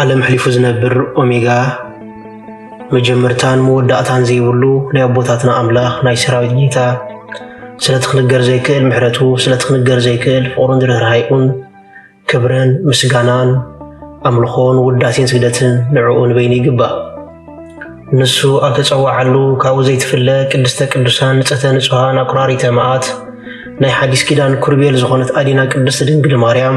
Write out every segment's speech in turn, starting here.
ዓለም ሕሊፉ ዝነብር ኦሜጋ መጀመርታን መወዳእታን ዘይብሉ ናይ ኣቦታትና ኣምላኽ ናይ ሰራዊት ጌታ ስለቲ ክንገር ዘይክእል ምሕረቱ ስለቲ ክንገር ዘይክእል ፍቕሩን ርህራሄኡን ክብርን ምስጋናን ኣምልኾን ውዳሴን ስግደትን ንዕኡ ንበይኑ ይግባእ። ንሱ ኣብ ተጸዋዓሉ ካብኡ ዘይትፍለ ቅድስተ ቅዱሳን ንጸተ ንጹሃን ኣቁራሪተ መዓት ናይ ሓዲስ ኪዳን ኩርቤል ዝኾነት ኣዴና ቅድስቲ ድንግል ማርያም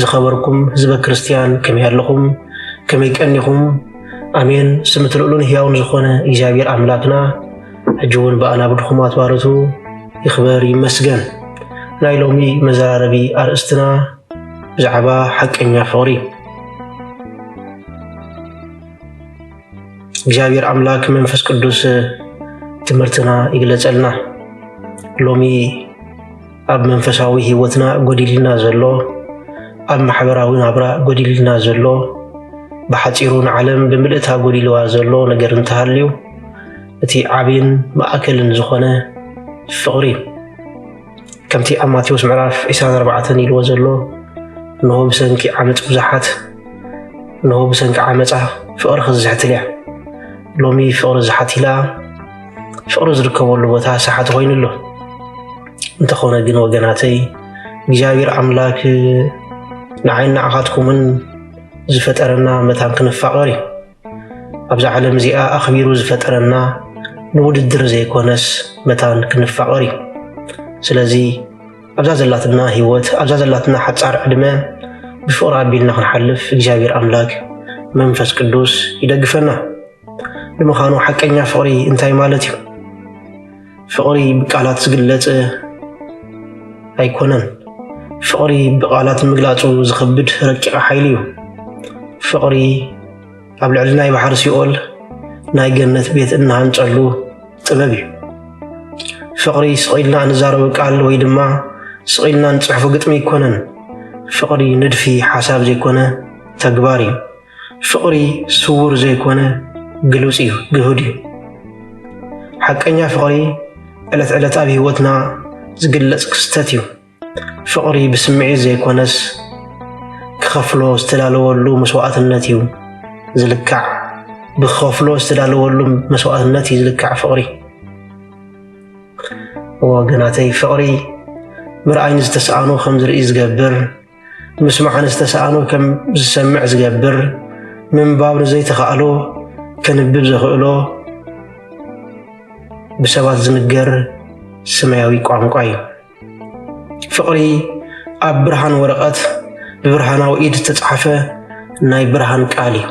ዝኸበርኩም ህዝበ ክርስትያን ከመይ ኣለኹም? ከመይ ቀኒኹም? ኣሜን። ስም እቲ ልዑልን ህያውን ዝኾነ እግዚኣብሔር ኣምላክና ሕጂ እውን ብኣናብ ድኹማት ባረቱ ይኽበር ይመስገን። ናይ ሎሚ መዘራረቢ ኣርእስትና ብዛዕባ ሓቀኛ ፍቕሪ እግዚኣብሔር ኣምላክ መንፈስ ቅዱስ ትምህርትና ይግለጸልና ሎሚ ኣብ መንፈሳዊ ህይወትና ጎዲልና ዘሎ፣ ኣብ ማሕበራዊ ናብራ ጎዲልና ዘሎ፣ ብሓጺሩ ንዓለም ብምልእታ ጎዲልዋ ዘሎ ነገር እንተሃልዩ እቲ ዓብይን ማእከልን ዝኾነ ፍቕሪ እዩ። ከምቲ ኣብ ማቴዎስ ምዕራፍ 24 ኢልዎ ዘሎ እንሆ ብሰንኪ ዓመፅ ብዙሓት እንሆ ብሰንኪ ዓመፃ ፍቕሪ ክዝሕትል እያ ሎሚ ፍቕሪ ዝሓቲላ ፍቕሪ ዝርከበሉ ቦታ ሰሓት ኮይኑ ኣሎ። እንተኾነ ግን ወገናተይ እግዚኣብሔር ኣምላክ ንዓይን ንዓኻትኩምን ዝፈጠረና መታን ክንፋቐር እዩ። ኣብዛ ዓለም እዚኣ ኣኽቢሩ ዝፈጠረና ንውድድር ዘይኮነስ መታን ክንፋቐር እዩ። ስለዚ ኣብዛ ዘላትና ህይወት ኣብዛ ዘላትና ሓፃር ዕድመ ብፍቕሪ ኣቢልና ክንሓልፍ እግዚኣብሔር ኣምላክ መንፈስ ቅዱስ ይደግፈና። ንምዃኑ ሓቀኛ ፍቕሪ እንታይ ማለት እዩ? ፍቕሪ ብቃላት ዝግለጽ ኣይኮነን። ፍቕሪ ብቃላት ምግላጹ ዝኸብድ ረቂቕ ሓይሊ እዩ። ፍቕሪ ኣብ ልዕሊ ናይ ባሕሪ ሲኦል ናይ ገነት ቤት እንሃንጸሉ ጥበብ እዩ። ፍቕሪ ስቒልና እንዛረቡ ቃል ወይ ድማ ስቒልና እንጽሕፎ ግጥሚ ኣይኮነን። ፍቕሪ ንድፊ ሓሳብ ዘይኮነ ተግባር እዩ። ፍቕሪ ስዉር ዘይኮነ ግሉጽ እዩ፣ ግሁድ እዩ። ሓቀኛ ፍቕሪ ዕለት ዕለት ኣብ ህይወትና ዝግለጽ ክስተት እዩ። ፍቕሪ ብስምዒት ዘይኮነስ ክኸፍሎ ዝተዳለወሉ መስዋእትነት እዩ ዝልካዕ። ብክኸፍሎ ዝተዳለወሉ መስዋእትነት እዩ ዝልካዕ ፍቕሪ። ወገናተይ ፍቕሪ ምርኣይ ንዝተስኣኑ ከም ዝርኢ ዝገብር ምስማዕ ንዝተሰኣኖ ከም ዝሰምዕ ዝገብር፣ ምንባብ ንዘይተኻእሎ ከንብብ ዘኽእሎ ብሰባት ዝንገር ስማያዊ ቋንቋ እዩ። ፍቕሪ ኣብ ብርሃን ወረቐት ብብርሃናዊ ኢድ ዝተጻሕፈ ናይ ብርሃን ቃል እዩ።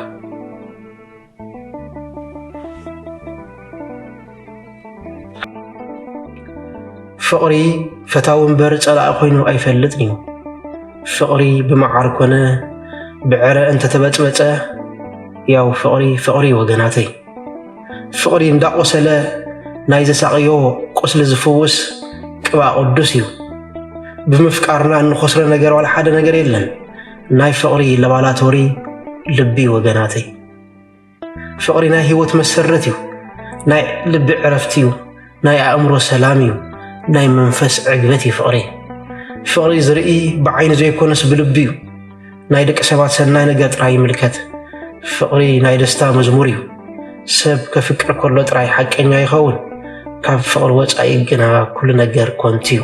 ፍቕሪ ፈታዊ እምበር ጸላኢ ኮይኑ ኣይፈልጥን እዩ። ፍቕሪ ብመዓር ኮነ ብዕረ እንተተበጽበጸ ያው ፍቕሪ ፍቕሪ ወገናተይ። ፍቕሪ እንዳቆሰለ ናይ ዘሳቕዮ ቁስሊ ዝፍውስ ቅብኣ ቅዱስ እዩ። ብምፍቃርና እንኸስሮ ነገር ዋላ ሓደ ነገር የለን። ናይ ፍቕሪ ለባላቶሪ ልቢ ወገናተይ ፍቕሪ ናይ ህይወት መሰረት እዩ ናይ ልቢ ዕረፍቲ እዩ ናይ ኣእምሮ ሰላም እዩ ናይ መንፈስ ዕግበት እዩ ፍቕሪ ፍቕሪ ዝርኢ ብዓይኒ ዘይኮነስ ብልቢ እዩ ናይ ደቂ ሰባት ሰናይ ነገር ጥራይ ይምልከት ፍቕሪ ናይ ደስታ መዝሙር እዩ ሰብ ከፍቅር ከሎ ጥራይ ሓቀኛ ይኸውን ካብ ፍቕሪ ወፃኢ ግና ኩሉ ነገር ኮንት እዩ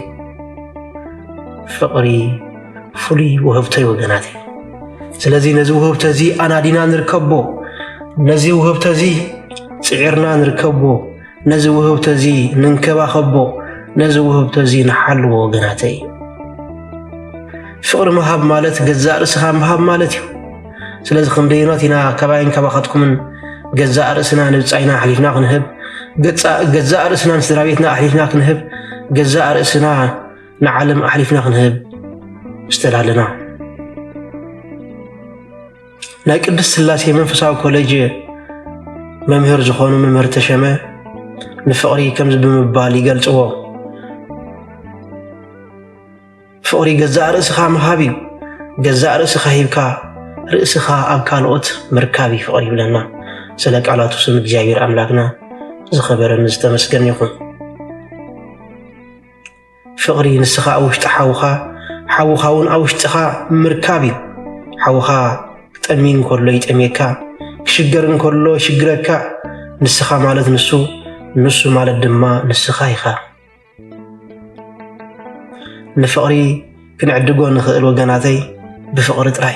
ፍቕሪ ፍሉይ ውህብቶይ ወገናት እዩ። ስለዚ ነዚ ውህብቶ እዚ ኣናዲና ንርከቦ፣ ነዚ ውህብቶ እዚ ፅዒርና ንርከቦ፣ ነዚ ውህብቶ እዚ ንንከባኸቦ፣ ነዚ ውህብቶ እዚ ንሓልዎ ወገናተይ። ፍቕሪ ምሃብ ማለት ገዛእ ርእስኻ ምሃብ ማለት እዩ። ስለዚ ክንደይኖት ኢና ካባይን ካባኻትኩምን ገዛእ ርእስና ንብፃይና ኣሕሊፍና ክንህብ ገዛእ ርእስናን ስድራ ቤትና ኣሕሊፍና ክንህብ ገዛእ ርእስና ንዓለም ኣሕሊፍና ክንህብ ዝተዳለና ናይ ቅዱስ ስላሴ መንፈሳዊ ኮሌጅ መምህር ዝኾኑ መምህር ተሸመ ንፍቕሪ ከምዚ ብምባል ይገልጽዎ። ፍቕሪ ገዛእ ርእስኻ ምሃብ እዩ። ገዛእ ርእስኻ ሂብካ ርእስኻ ኣብ ካልኦት ምርካብ እዩ ፍቕሪ ይብለና። ስለ ቃላቱ ስም እግዚኣብሔር ኣምላክና ዝኸበረን ዝተመስገን ይኹን። ፍቕሪ ንስኻ ኣብ ውሽጢ ሓውኻ ሓውኻ እውን ኣብ ውሽጢኻ ምርካብ እዩ። ሓውኻ ክጠሚ እንከሎ ይጠምየካ፣ ክሽገር እንከሎ ይሽግረካ። ንስኻ ማለት ንሱ፣ ንሱ ማለት ድማ ንስኻ ኢኻ። ንፍቕሪ ክንዕድጎ ንኽእል ወገናተይ ብፍቕሪ ጥራይ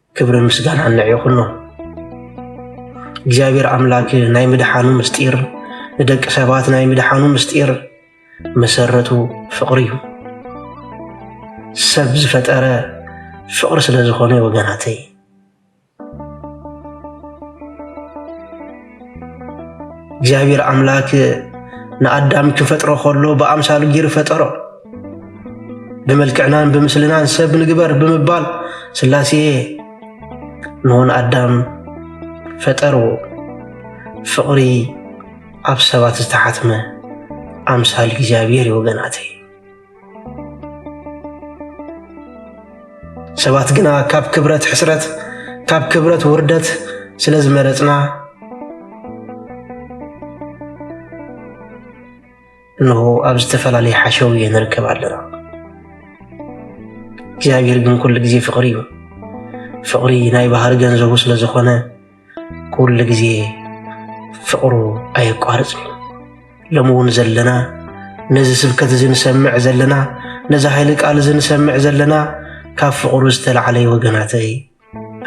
ክብርን ምስጋናን ንዒኹኖ እግዚኣብሔር ኣምላክ ናይ ምድሓኑ ምስጢር ንደቂ ሰባት ናይ ምድሓኑ ምስጢር መሰረቱ ፍቅሪ እዩ ሰብ ዝፈጠረ ፍቅሪ ስለ ዝኾነ ወገናተይ እግዚኣብሔር ኣምላክ ንኣዳም ክፈጥሮ ከሎ ብኣምሳሉ ጊር ፈጠሮ ብመልክዕናን ብምስልናን ሰብ ንግበር ብምባል ስላሴ ንሆን ኣዳም ፈጠርዎ። ፍቕሪ ኣብ ሰባት ዝተሓትመ ኣምሳል እግዚኣብሔር እዩ ወገናተይ። ሰባት ግና ካብ ክብረት ሕስረት፣ ካብ ክብረት ውርደት ስለ ዝመረጽና እነሆ ኣብ ዝተፈላለየ ሓሸውየ ንርከብ ኣለና። እግዚኣብሔር ግን ኩሉ ግዜ ፍቕሪ እዩ። ፍቕሪ ናይ ባህሪ ገንዘቡ ስለ ዝኾነ ኩሉ ግዜ ፍቕሩ ኣየቋርፅን እዩ። ሎሚ እውን ዘለና ነዚ ስብከት እዚ ንሰምዕ ዘለና ነዚ ሃይሊ ቃል እዚ ንሰምዕ ዘለና ካብ ፍቕሩ ዝተላዕለ ወገናተይ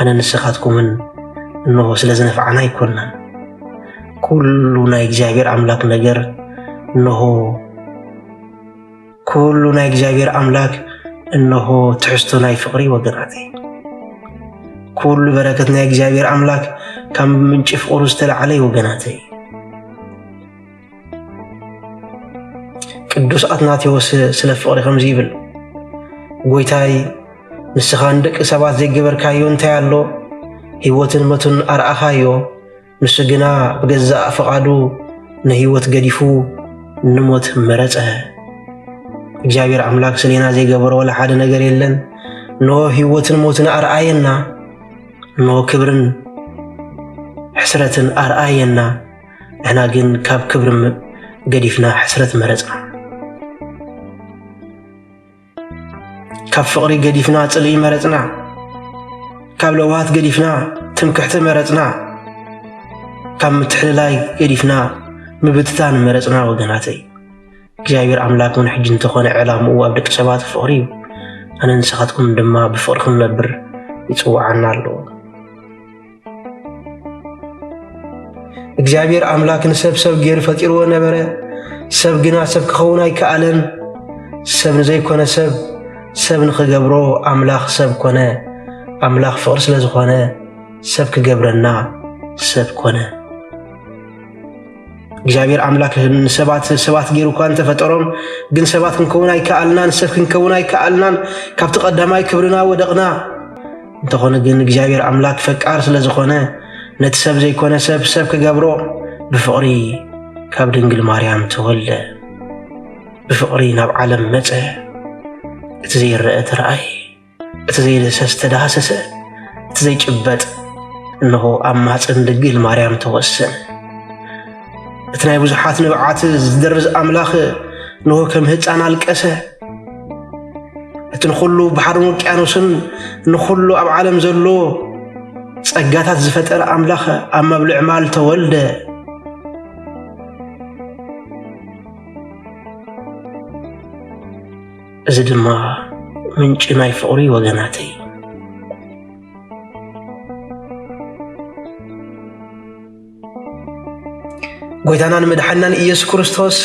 ኣነ ንስኻትኩምን እንሆ ስለ ዝነፍዓና ኣይኮናን ኩሉ ናይ እግዚኣብሔር ኣምላክ ነገር እንሆ ኩሉ ናይ እግዚኣብሔር ኣምላክ እንሆ ትሕዝቶ ናይ ፍቅሪ ወገናት ኩሉ በረከት ናይ እግዚኣብሔር ኣምላክ ካብ ምንጪ ፍቅሩ ዝተላዕለ ወገናተይ ቅዱስ ኣትናቴዎስ ስለ ፍቕሪ ከምዚ ይብል፣ ጐይታይ ንስኻ ንደቂ ሰባት ዘይገበርካዮ እንታይ ኣሎ? ህይወትን መቱን ኣርኣኻዮ፣ ንሱ ግና ብገዛእ ፍቓዱ ንህይወት ገዲፉ ንሞት መረጸ። እግዚኣብሔር ኣምላክ ስሌና ዘይገበሮ ወላ ሓደ ነገር የለን። ኖ ህይወትን ሞትን ኣርኣየና፣ ኖ ክብርን ሕስረትን ኣርኣየና። ንሕና ግን ካብ ክብሪ ገዲፍና ሕስረት መረጽና። ካብ ፍቕሪ ገዲፍና ጽልኢ መረጽና። ካብ ለውሃት ገዲፍና ትምክሕቲ መረጽና። ካብ ምትሕልላይ ገዲፍና ምብትታን መረጽና ወገናተይ። እግዚኣብሔር ኣምላክ እውን ሕጂ እንተኾነ ዕላምኡ ኣብ ደቂ ሰባት ፍቕሪ እዩ ኣነ ንስኻትኩም ድማ ብፍቕሪ ክንነብር ይጽውዓና ኣለዎ እግዚኣብሔር ኣምላክ ንሰብ ሰብ ገይሩ ፈጢርዎ ነበረ። ሰብ ግና ሰብ ክኸውን ኣይከኣለን። ሰብ ንዘይኮነ ሰብ ሰብ ንኽገብሮ ኣምላኽ ሰብ ኮነ። ኣምላኽ ፍቕሪ ስለ ዝኾነ ሰብ ክገብረና ሰብ ኮነ። እግዚኣብሔር ኣምላክ ንሰባት ሰባት ገይሩ እኳ እንተፈጠሮም ግን ሰባት ክንከውን ኣይከኣልናን፣ ሰብ ክንከውን ኣይከኣልናን። ካብቲ ቀዳማይ ክብርና ወደቕና። እንተኾነ ግን እግዚኣብሔር ኣምላክ ፈቃር ስለ ዝኾነ ነቲ ሰብ ዘይኮነ ሰብ ሰብ ክገብሮ ብፍቕሪ ካብ ድንግል ማርያም ተወልደ ብፍቕሪ ናብ ዓለም መጸ እቲ ዘይረአ ተረኣየ እቲ ዘይደሰስ ተዳህሰሰ እቲ ዘይጭበጥ እነሆ ኣብ ማሕፀን ድንግል ማርያም ተወሰነ እቲ ናይ ብዙሓት ንብዓት ዝደርዝ ኣምላኽ ንሆ ከም ህፃን ኣልቀሰ። እቲ ንኹሉ ባሕርን ውቅያኖስን ንኹሉ ኣብ ዓለም ዘሎ ጸጋታት ዝፈጠረ ኣምላኽ ኣብ መብልዕ ማል ተወልደ። እዚ ድማ ምንጪ ናይ ፍቕሪ ወገናተይ ጎይታናን መድሓናን ኢየሱስ ክርስቶስ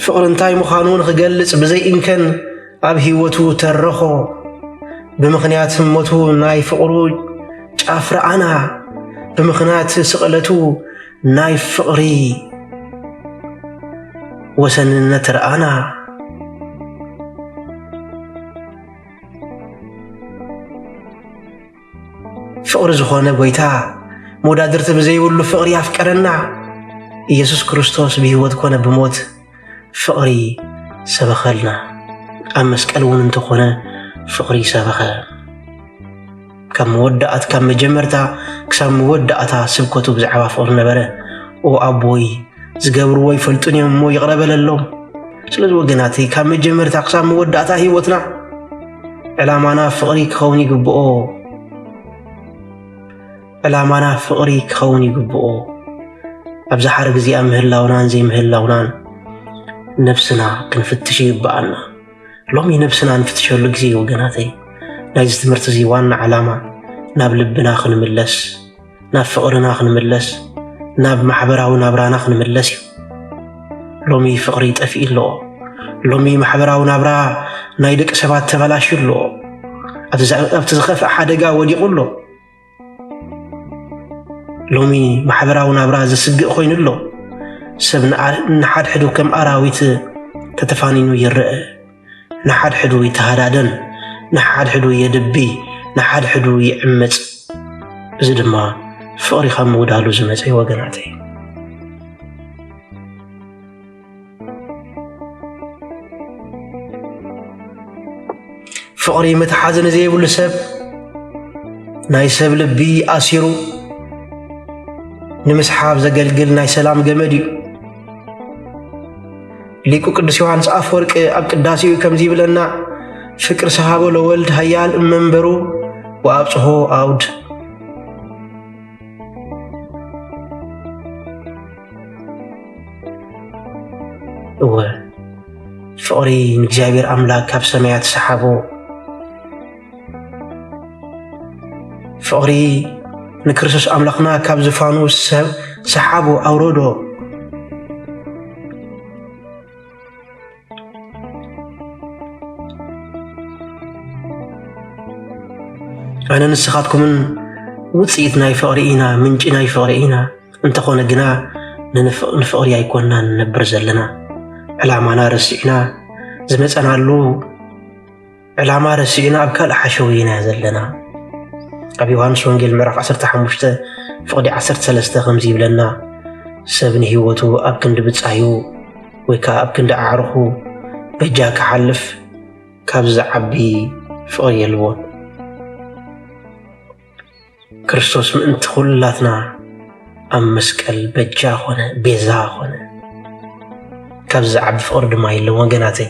ፍቕሪ እንታይ ምዃኑ ንኽገልጽ ብዘይእንከን ኣብ ህይወቱ ተረኾ። ብምኽንያት ሞቱ ናይ ፍቕሩ ጫፍ ረኣና፣ ብምኽንያት ስቕለቱ ናይ ፍቕሪ ወሰንነት ረኣና። ፍቕሪ ዝኾነ ጎይታ መወዳድርቲ ብዘይብሉ ፍቕሪ ኣፍቀረና። ኢየሱስ ክርስቶስ ብህይወት ኮነ ብሞት ፍቕሪ ሰበኸልና። ኣብ መስቀል እውን እንተኾነ ፍቕሪ ሰበኸ። ካብ መወዳእት ካብ መጀመርታ ክሳብ መወዳእታ ስብከቱ ብዛዕባ ፍቕሪ ነበረ። ኦ ኣቦይ ዝገብርዎ ይፈልጡን እዮም እሞ ይቕረ በለሎም። ስለዚ ወገናተይ ካብ መጀመርታ ክሳብ መወዳእታ ህይወትና ዕላማና ፍቕሪ ክኸውን ይግብኦ ዕላማና ፍቕሪ ክኸውን ይግብኦ ኣብዚ ሓረግ እዚኣ ምህላውናን ዘይምህላውናን ነብስና ክንፍትሽ ይግብኣና ሎሚ ነብስና ንፍትሸሉ ግዜ እዩ ወገናተይ ናይዚ ትምህርቲ እዚ ዋና ዓላማ ናብ ልብና ክንምለስ ናብ ፍቕርና ክንምለስ ናብ ማሕበራዊ ናብራና ክንምለስ እዩ። ሎሚ ፍቕሪ ጠፊኡ ኣሎ። ሎሚ ማሕበራዊ ናብራ ናይ ደቂ ሰባት ተበላሽዩ ኣሎ። ኣብቲ ዝኸፍአ ሓደጋ ወዲቑ ኣሎ። ሎሚ ማሕበራዊ ናብራ ዘስግእ ኮይኑ ኣሎ። ሰብ ንሓድሕዱ ከም ኣራዊት ተተፋኒኑ ይረአ። ንሓድሕዱ ይተሃዳደን፣ ንሓድሕዱ የድቢ፣ ንሓድሕዱ ይዕምጽ። እዚ ድማ ፍቕሪ ካብ ምጉዳሉ ዝመጸ ወገናተይ ፍቕሪ ምትሓዝ ንዘይብሉ ሰብ ናይ ሰብ ልቢ ኣሲሩ ንምስሓብ ዘገልግል ናይ ሰላም ገመድ እዩ። ሊቁ ቅዱስ ዮሐንስ አፈወርቅ ኣብ ቅዳሴኡ ከምዚ ይብለና ፍቅር ሰሃቦ ለወልድ ሀያል እመንበሩ ወአብጽሖ አውድ እወ ፍቅሪ ንእግዚኣብሔር ኣምላክ ካብ ሰማያት ሰሓቦ ፍቕሪ ንክርስቶስ ኣምላኽና ካብ ዝፋኑ ሰብ ሰሓቦ ኣውረዶ ኣነ ንስኻትኩምን ውፅኢት ናይ ፍቕሪ ኢና ምንጪ ናይ ፍቕሪ ኢና እንተኾነ ግና ንፍቕሪ ኣይኮና ንነብር ዘለና ዕላማና ረሲዕና ዝመፀናሉ ዕላማ ረሲእና ኣብ ካልእ ሓሸውየ ኢና ዘለና ኣብ ዮሃንስ ወንጌል ምዕራፍ 15 ፍቕዲ 13 ከምዚ ይብለና ሰብ ንህይወቱ ኣብ ክንዲ ብጻዩ ወይ ከዓ ኣብ ክንዲ ኣዕርኹ በጃ ክሓልፍ ካብዚ ዝዓቢ ፍቕሪ የልቦን ክርስቶስ ምእንቲ ኩላትና ኣብ መስቀል በጃ ኮነ ቤዛ ኮነ ካብ ዝዓቢ ፍቕሪ ድማ የለን ወገናተይ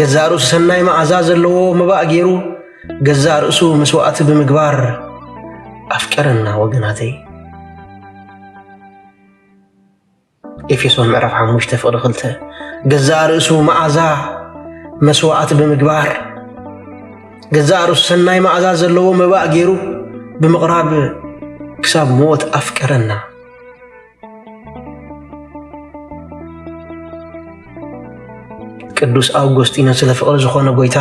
ገዛእ ርእሱ ሰናይ መዓዛ ዘለዎ መባእ ገይሩ ገዛእ ርእሱ መስዋእቲ ብምግባር ኣፍቀረና ወገናተይ ኤፌሶን ምዕራፍ 5 ፍቕዲ 2 ገዛእ ርእሱ መዓዛ መስዋእቲ ብምግባር ገዛእ ርእሱ ሰናይ መዓዛ ዘለዎ መባእ ገይሩ ብምቕራብ ክሳብ ሞት ኣፍቀረና ቅዱስ ኣውጎስጢኖስ ስለ ፍቕሪ ዝኾነ ጎይታ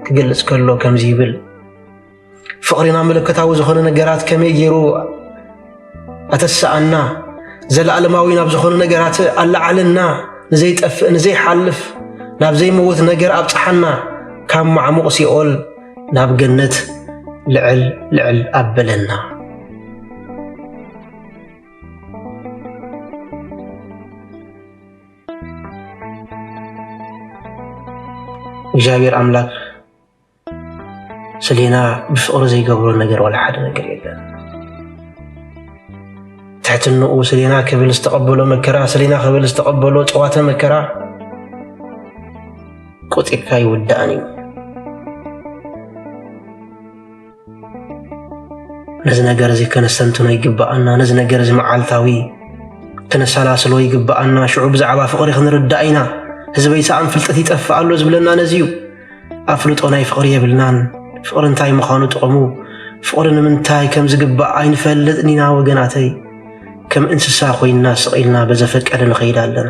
ክገልጽ ከሎ ከምዚ ይብል ፍቕሪና መለኮታዊ ዝኾነ ነገራት ከመይ ገይሩ ኣተሰኣና ዘለኣለማዊ ናብ ዝኾኑ ነገራት ኣለዓለና ንዘይጠፍእ ንዘይሓልፍ ናብ ዘይመውት ነገር ኣብፀሓና ካብ ማዕሙቕ ሲኦል ናብ ገነት ልዕል ልዕል ኣበለና እግዚኣብሔር ኣምላክ ስሌና ብፍቅሪ ዘይገብሮ ነገር ዋላ ሓደ ነገር የለን። ትሕትንኡ ስሌና ክብል ዝተቀበሎ መከራ፣ ስሌና ክብል ዝተቀበሎ ጨዋተ መከራ ቆጢብካ ይውዳእን እዩ። ነዚ ነገር እዚ ከነስተንትኖ ይግብኣና ነዚ ነገር እዚ መዓልታዊ ከነሰላስሎ ይግብኣና ሽዑ ብዛዕባ ፍቕሪ ክንርዳእ ኢና ህዝበይ ሰኣን ፍልጠት ይጠፍእ ኣሎ ዝብለና ነዚ እዩ ኣፍልጦ ናይ ፍቕሪ የብልናን ፍቕሪ እንታይ ምዃኑ ጥቕሙ ፍቕሪ ንምንታይ ከም ዝግባእ ኣይንፈልጥን ኢና ወገናተይ ከም እንስሳ ኮይንና ስቕ ኢልና በዘፈቀደ ንኸይድ ኣለና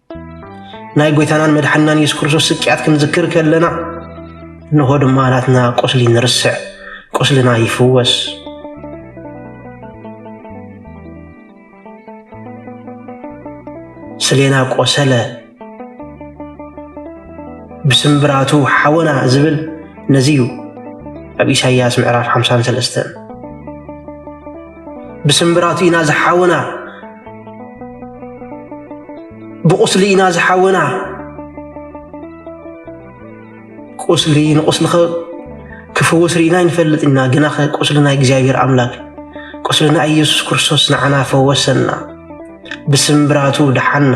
ናይ ጐይታናን መድሓንናን የሱስ ክርስቶስ ስቅያት ክንዝክር ከለና እንሆ ድማ ናትና ቁስሊ ንርስዕ፣ ቁስልና ይፍወስ። ስሌና ቆሰለ ብስምብራቱ ሓወና ዝብል ነዚ እዩ ኣብ ኢሳይያስ ምዕራፍ 53 ብስምብራቱ ኢና ዝሓወና ብቑስሊ ኢና ዝሓወና ቁስሊ ንቁስሊ ክፍውስ ርኢና ይንፈልጥ ኢና ግና ቁስሊ ናይ እግዚኣብሔር ኣምላክ ቁስሊ ናይ ኢየሱስ ክርስቶስ ንዓና ፈወሰና ብስምብራቱ ደሓና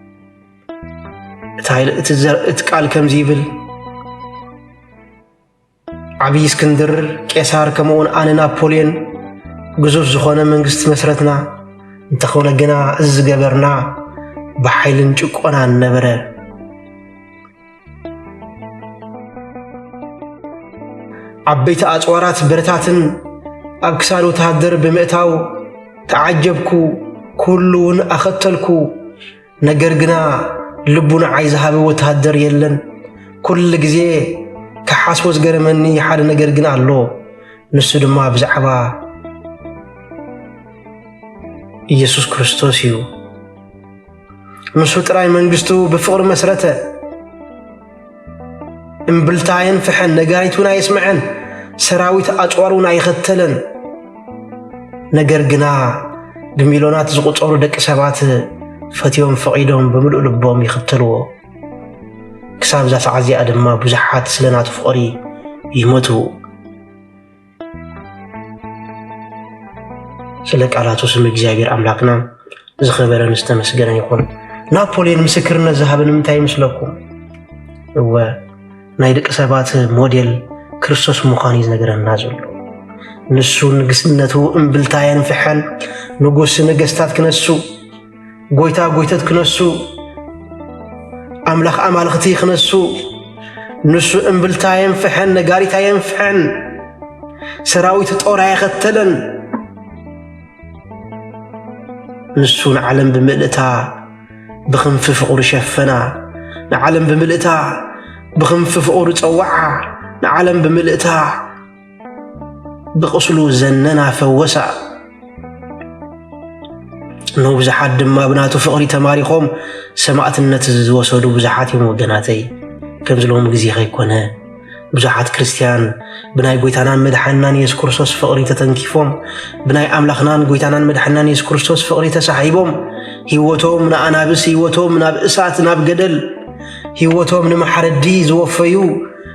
እቲ ቃል ከምዚ ይብል ዓብዪ እስክንድር ቄሳር ከምኡውን ኣነ ናፖልዮን ግዙፍ ዝኾነ መንግስቲ መስረትና እንተኾነ ግና እዚ ዝገበርና ብሓይልን ጭቆናን ነበረ ዓበይቲ ኣጽዋራት ብረታትን ኣብ ክሳድ ወተሃደር ብምእታው ተዓጀብኩ፣ ኩሉ እውን ኣኸተልኩ። ነገር ግና ልቡ ንዓይ ዝሃበ ወተሃደር የለን። ኩሉ ግዜ ክሓስቦ ዝገረመኒ ሓደ ነገር ግን ኣሎ። ንሱ ድማ ብዛዕባ ኢየሱስ ክርስቶስ እዩ። ንሱ ጥራይ መንግስቱ ብፍቕሪ መስረተ። እምብልታ ኣየንፍሐን፣ ነጋሪት እውን ኣየስምዐን፣ ሰራዊት ኣጽዋር እውን ኣይኸተለን። ነገር ግና ብሚልዮናት ዝቝጸሩ ደቂ ሰባት ፈትዮም ፈቒዶም ብምሉእ ልቦም ይኽተልዎ። ክሳብ እዛ ሰዓት እዚኣ ድማ ብዙሓት ስለ ናቱ ፍቕሪ ይሞቱ። ስለ ቃላቱ ስም እግዚኣብሔር ኣምላክና ዝኸበረን ዝተመስገነን ይኹን። ናፖሊዮን ምስክርነት ዝሃበ ንምንታይ ይመስለኩም? እወ ናይ ደቂ ሰባት ሞዴል ክርስቶስ ምዃን እዩ ዝነገረና ዘሎ። ንሱ ንግስነቱ እምብልታ የንፍሐን፣ ንጉስ ነገስታት ክነሱ ጎይታ ጎይተት ክነሱ፣ ኣምላኽ ኣማልኽቲ ክነሱ፣ ንሱ እምብልታ የንፍሐን ነጋሪታ የንፍሐን፣ ሰራዊት ጦር ኣየኸተለን። ንሱ ንዓለም ብምልእታ ብክንፊ ፍቕሩ ሸፈና፣ ንዓለም ብምልእታ ብክንፊ ፍቕሩ ጸዋዓ፣ ንዓለም ብምልእታ ብቕስሉ ዘነና ፈወሳ። ንብዙሓት ድማ ብናቱ ፍቕሪ ተማሪኾም ሰማእትነት ዝወሰዱ ብዙሓት እዮም ወገናተይ። ከምዚ ሎሚ ግዜ ከይኮነ ብዙሓት ክርስትያን ብናይ ጎይታናን መድሓንናን የሱስ ክርስቶስ ፍቕሪ ተተንኪፎም ብናይ ኣምላኽናን ጎይታናን መድሓንናን የሱስ ክርስቶስ ፍቕሪ ተሳሒቦም ህይወቶም ንኣናብስ ህይወቶም ናብ እሳት ናብ ገደል ህይወቶም ንማሕረዲ ዝወፈዩ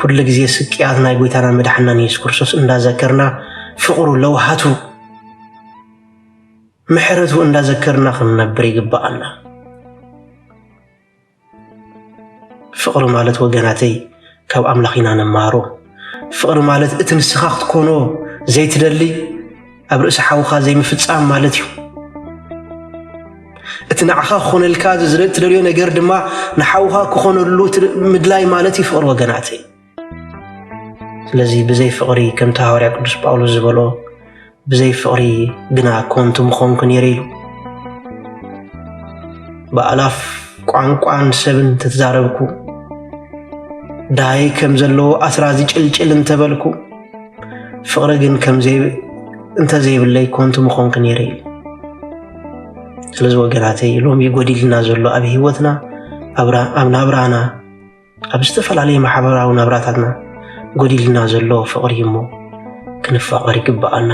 ኩሉ ግዜ ስቅያት ናይ ጎይታናን መድሓናን የሱስ ክርስቶስ እንዳዘከርና ፍቕሩ ለውሃቱ ምሕረቱ እንዳዘከርና ክንነብር ይግባኣና። ፍቕሪ ማለት ወገናተይ ካብ ኣምላኽ ኢና ንመሃሮ። ፍቕሪ ማለት እቲ ንስኻ ክትኮኖ ዘይትደሊ ኣብ ርእሲ ሓውኻ ዘይምፍጻም ማለት እዩ። እቲ ንዓኻ ክኾነልካ እትደልዮ ነገር ድማ ንሓውኻ ክኾነሉ ምድላይ ማለት እዩ ፍቕሪ ወገናተይ። ስለዚ ብዘይ ፍቕሪ ከምቲ ሃዋርያ ቅዱስ ጳውሎስ ዝበሎ ብዘይ ፍቕሪ ግና ኮንቱ ምኾንኩ ነይረ ኢሉ። ብኣላፍ ቋንቋን ሰብን ተትዛረብኩ፣ ድሃይ ከም ዘለዎ ኣስራዚ ጭልጭል እንተበልኩ ፍቕሪ ግን እንተዘይብለይ ኮንቱ ምኾንክ ነይረ ኢሉ ስለዚ ወገናተይ ሎሚ ጎዲልና ዘሎ ኣብ ሂወትና ኣብ ናብራና ኣብ ዝተፈላለየ ማሕበራዊ ናብራታትና ጎዲልና ዘሎ ፍቕሪ እሞ ክንፋቐር ይግብኣና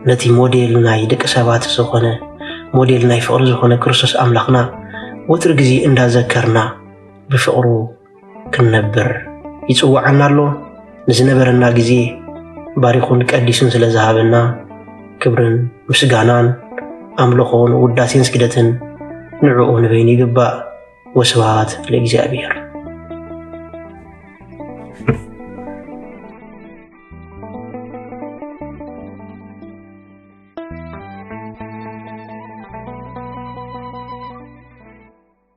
ነቲ ሞዴል ናይ ደቂ ሰባት ዝኾነ ሞዴል ናይ ፍቕሪ ዝኾነ ክርስቶስ ኣምላኽና ወትሪ ግዜ እንዳዘከርና ብፍቕሩ ክንነብር ይጽውዓና ኣሎ። ንዝነበረና ግዜ ባሪኹን ቀዲሱን ስለ ዝሃበና ክብርን ምስጋናን ኣምልኾን ውዳሴን ስግደትን ንዕኡ ንበይኑ ይግባእ። ወስብሃት ለእግዚኣብሔር።